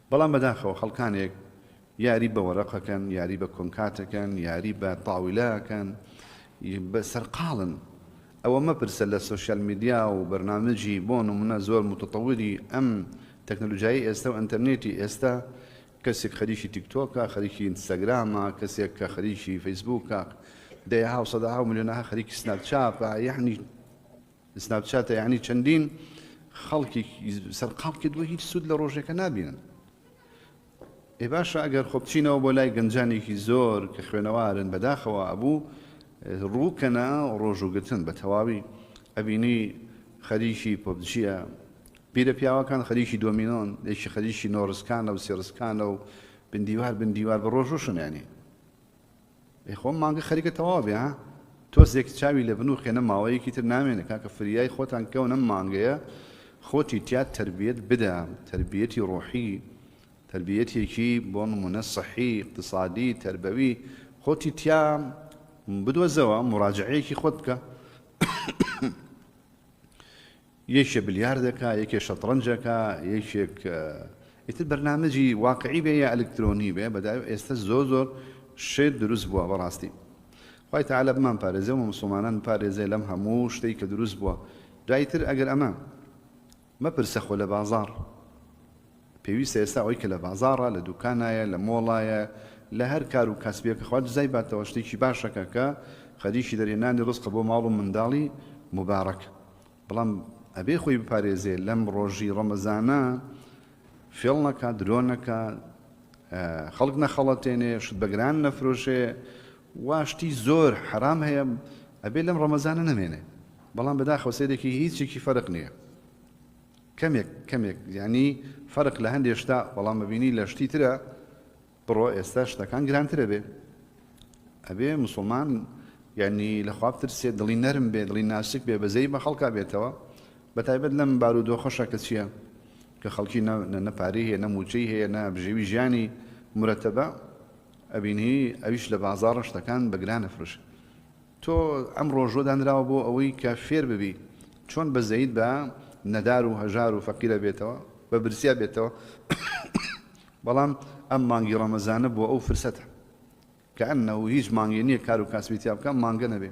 بەڵام بەداخەوە خەڵکانێک یاری بە وەرەقەکەن، یاری بە کۆنکاتەکەن، یاری بە تاویلەکەن، سەرقاڵن. ئەوە مەپرسە لە سۆشیال میدیا و بەرنامجی بۆ نمونە زۆر موتەتەویری ئەم تەکنەلوجیای ئێستا و ئەنتەرنێتی ئێستا، کەسێک خەریکی تیکتۆکە، خەریکی ئینستاگرامە، کەسێک کە خەریکی فەیسبووکە، دەیەها و سەدەها و ملیۆنەها خەریکی سناپ چاپە، یەعنی سناپ چاتە یعنی چەندین خەڵکی سەرقاڵ کردووە هیچ سوود لە ڕۆژێکە نابینن ئێ باشە ئەگەر خۆ بچینەوە بۆ لای گەنجانێکی زۆر کە خوێنەوارن بەداخەوە ئەبوو ڕووکەنا ڕۆژوگرتن بە تەواوی ئەبینی خەریکی پۆبجیە پیرە پیاوەکان خەریکی دۆمینۆن یەکی خەریکی نۆڕسکانە و سێڕسکانە و بندیوار بندیوار بە ڕۆژوشنێنی ئەی خۆ مانگە خەریکە تەواو بێ ها تۆزێک چاوی لە بن و خێنە ماوەیەکی تر نامێنێ کاکە فریای خۆتان کەون ئەم مانگەیە خۆتی تیا تەربیەت بدە تەربیەتی ڕۆحی تەربیەتێکی بۆ نمونە سەحی اقتصادی تربەوی خۆتی تیا بدۆزەوە مراجعەیەکی خۆت بکە یەکێ بلیارد ئەکا یەکێ شەتڕەنج ئەکا یەکێک ئیتر بەرنامەجی واقعی بێ یا ئەلکترۆنی بێ بەداوی ئێستە زۆر زۆر شێت دروست بوە بەڕاستی خوای تەعالا بمان پارێزێ و موسڵمانان بپارێزێ لەم هەموو شتەی کە دروست بوە دوای تر ئەگەر ئەمە مەپرسە خۆ لە بازاڕ پێویستە ئێستا ئەوەی کە لە بازاڕە لە دوکانایە لە مۆڵایە لە هەر کار و کەسبێکە خوا جزای باتەوە شتێکی باشەکە کە خەریکی دەرهێنانی ڕزقە بۆ ماڵ و منداڵی مبارەک بەڵام ئەبێ خۆی بپارێزێ لەم ڕۆژی ڕەمەزانە فێڵ نەکا درۆ نەکا خەڵک نەخەڵەتێنێ شت بەگران نەفرۆشێ واشتی زۆر حرام هەیە ئەبێ لەم ڕەمەزانە نەمێنێ بەڵام بەداخەوە سێرێکی هیچێکی فەرق نییە کەمێک کەمێک ینی فەرق لە هەندێشتا بەڵام مەبینی لە شتی ترە بڕۆ ئێستا شتەکان گرانتر ئەبێ ئەبێ مسوڵمان یعنی لە خوا بترسێ دڵی نەرم بێ دڵی ناسک بێ بەزەی بە خەڵکا بێتەوە بە تایبەت لەم بارودۆخەشە کە چییە کە خەڵکی نەپاری هەیە نە موچەی هەیە نە بژێوی ژیانی مرەتەبە ئەبینی ئەویش لە بازار ڕشتەکان بەگران نەفرش تۆ ئەم ڕۆژوە دانراوە بۆ ئەوەی کە فێر ببی چۆن بەزەیت بە نەدار و هەژار و فەقیرە بێتەوە بە برسیا بێتەوە بەڵام ئەم مانگی ڕەمەزانە بۆ ئەو فرسەتە. کەئەنەو هیچ مانگێ نیە کارو کاسبی تیا بکە ئەم مانگە نەبێ.